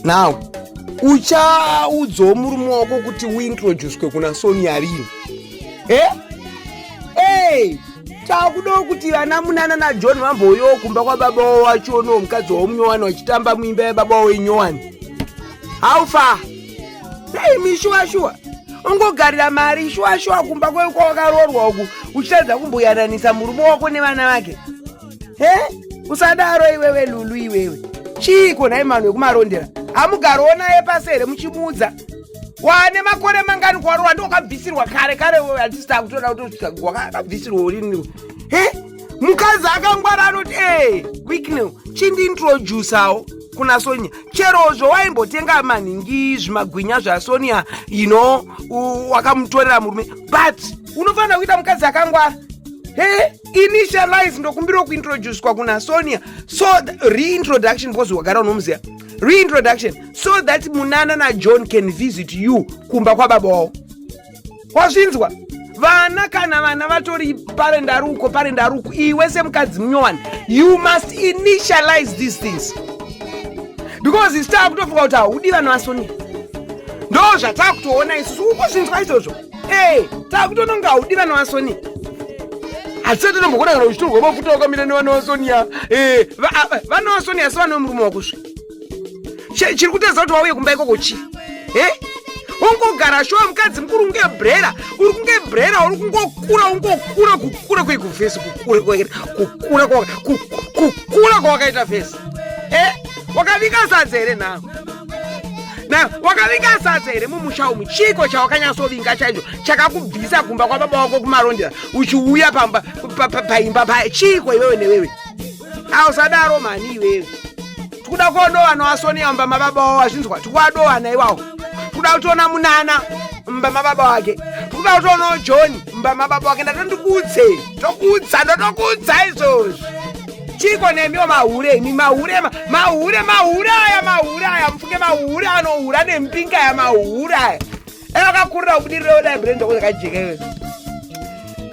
now uchaudzawo murume wako kuti uintroducwe kuna sonia rini he eh? hey, takudawo kuti vana munana najohn vamboyowo kumba kwababa wavo vachionawo mukadzi wavo munyowani vachitamba muimba yababa wavo inyowani how far hey, mishuwa shuwa ungogarira mari shuwa shuwa kumba kwewakaroorwa uku uchitadza kumboyananisa murume wako nevana vake he usadaro iwewe lulu iwewe chiiko nhai manu wekumarondera hamugarowo naye pasi here muchimuudza wane makore mangani kwaro wandi wakabvisirwa kare kare wewe hatisi takutoda kutosvika wakabvisirwa uriniro he mukadzi akangwara anoti ee eh, quicknow chindiintrodusawo kuna sonia cherozvo waimbotenga manhingi zvimagwinya zvasonia ino wakamutorera murume but unofanira kuita mukadzi akangwara he initialize ndokumbirawo kuintroducwa kuna sonia so reintroduction because wagara unomuziva reintroduction so that munana najohn can visit you kumba kwababa wavo wazvinzwa vana kana vana vatori pare ndaruko pare ndaruko iwe semukadzi munyowani you must initialize these things because isi taakutofunga kuti haudi vana vasonia ndo zvataakutoona isusu ukuzvinzwa izvozvo Hey, takutononga haudi vana vasoni hatisati tombokona kana uchitorwa mafuta wakamira nevana vasonia eh, vana vasonia asi vane murume wakusvi chiri kutadza kuti wauye kumba ikoko chii eh? ungogara shuwa mukadzi mukuru unge brera uri kunge brera uri kungokura ungokura kukura kwekuvhesi kukura kwakaita vhesi eh, wakavinga sadza here nhawo na wakavinga sadza here mumusha umu chiiko chawakanyatsovinga chaicho chakakubvisa kumba kwababa wako kumarondera uchiuya pamba paimba paye chiiko iwewe newewe ausadaro mhani iwewe tikuda kuodowana wasonia mumba mababa wavo wazvinzwa tikuwadowana iwawo tikuda kutiona munana mumba mababa wake tikuda kutionawo john mumba mababa wake ndatondikuudzei tokuudza ndotokuudza izvozvi chiko nemiwo mahure imi mahure mahure mahure aya mahure aya mufunge mahure anohura nempinga ya mahure aya dai vakakurira kubudirira dai brenda ko yakajeka iwe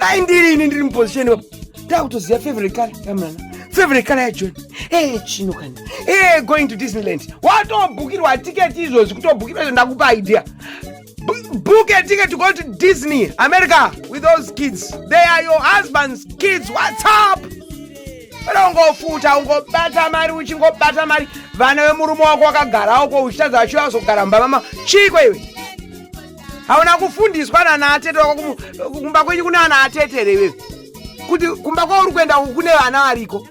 dai ndiri ini ndiri muposition ipapo dai kutoziva favorite color yamnana favorite color yajoni ee eh, chino kani ee eh, going to disneyland watobhukirwa tiketi izvozvi kutobhukirwa izvo ndakupa idea book a ticket to go to Disney, America with those kids. They are your husband's kids. What's up? Pera ungofuta ungobata mari uchingobata mari vana vemurume wako wakagara uko uchitadza vachiva vazogara mumba mama chiiko iwe hauna kufundiswa nana atete wako kumu- kumba kwenyu kuna ana atete here iwewe kuti kumba kwauri kuenda uku kune vana variko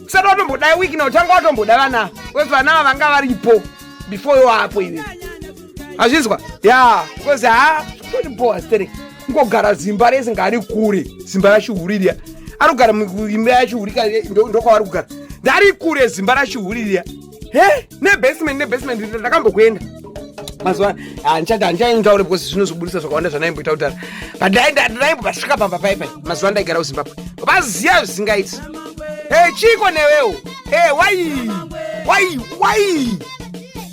usati watomboda wiki na utanga watomboda vana ava. wekuti vana ava vanga varipo before iwapo iwewe azvinzwa ya because ha totibhowa sterek ngogara zimba rese ngaari kure zimba rachihuririya ari kugara imba yachihurika ndokwaari kugara ndari kure zimba rachihuririya he nebasement nebasement ndakambokuenda mazuva handichati handichaindaure because zvinozobudisa zvakawanda zvanaimboita kudhara but ndaimbobasvika pamba paipai mazuva ndaigara kuzimbabwe vaziva zvisingaiti e chiko newewo e wai wai wai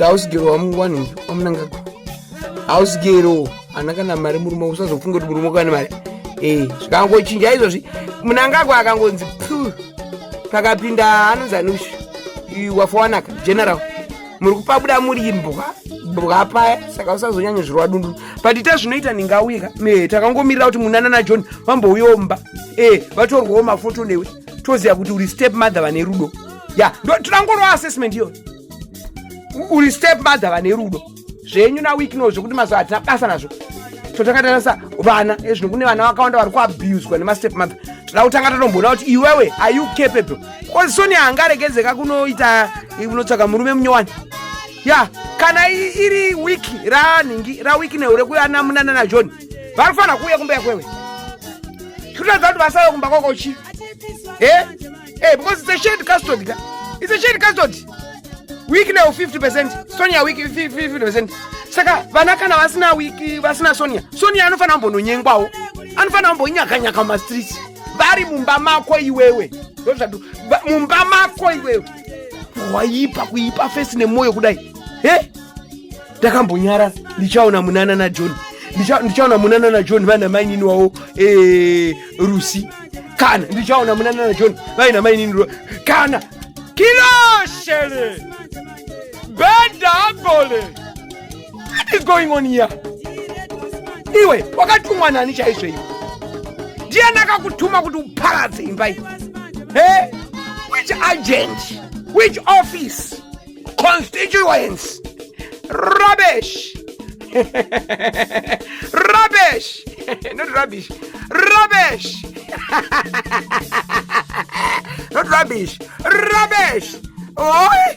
hausigero wamungwani wamunangagwa hausigero ana kana mari murume usazofunga kuti murume kane mari ee zvikangochinja izvozvi munangagwa akangonzi pu pakapinda anonzi anush wafowanaka general muri kupabuda muri imbwa bwa paya saka usazonyanya zvirwa dundu but ita zvinoita ndingauye ka me takangomirira kuti munana najohn vambouyawo mumba ee eh, vatorwawo mafoto newe toziva kuti uri step mother vane rudo ya yeah. totangorowa assessment iyoyo uri step mother vane rudo zvenyu na week no zvekuti mazuva hatina basa nazvo totakatarisa vana ezvino kune vana vakawanda vari kuabuswa nemastep mother toda kutanga tatomboona kuti iwewe are you capable bcause soni hangaregedzeka kunoita unotsvaga murume munyowani ya kana iri week ranhingi raweek nehu rekuyana munana najohn vari kufanira kuuya kumba yakwewe chikutoedza kuti vasave kumba kwakochi e eh? Hey, eh, because it's a shared custody. It's a shared custody. Week now 50%, Sonia week 50%. Saka vana kana vasina week vasina Sonia. Sonia anofana kumbononyengwawo. Anofana kumbonyaka nyaka ma streets. Vari mumba mako iwewe. Ndozvadu. Mumba mako iwewe. Waipa kuipa face nemoyo kudai. Hey? takambonyara ndichaona munana najohn ndichaona munana najohn vaina mainini wavo eh, rusi kana ndichaona munana najohn vaina mainini ru kana kiloshele benda agole what is going on here iwe wakatumwa nani chaizvo iwe ndiyani akakutuma kuti uparadze imba iyi hey? which agent which office constituents rubbish rubbish not rubbish rubbish not rubbish rubbish oi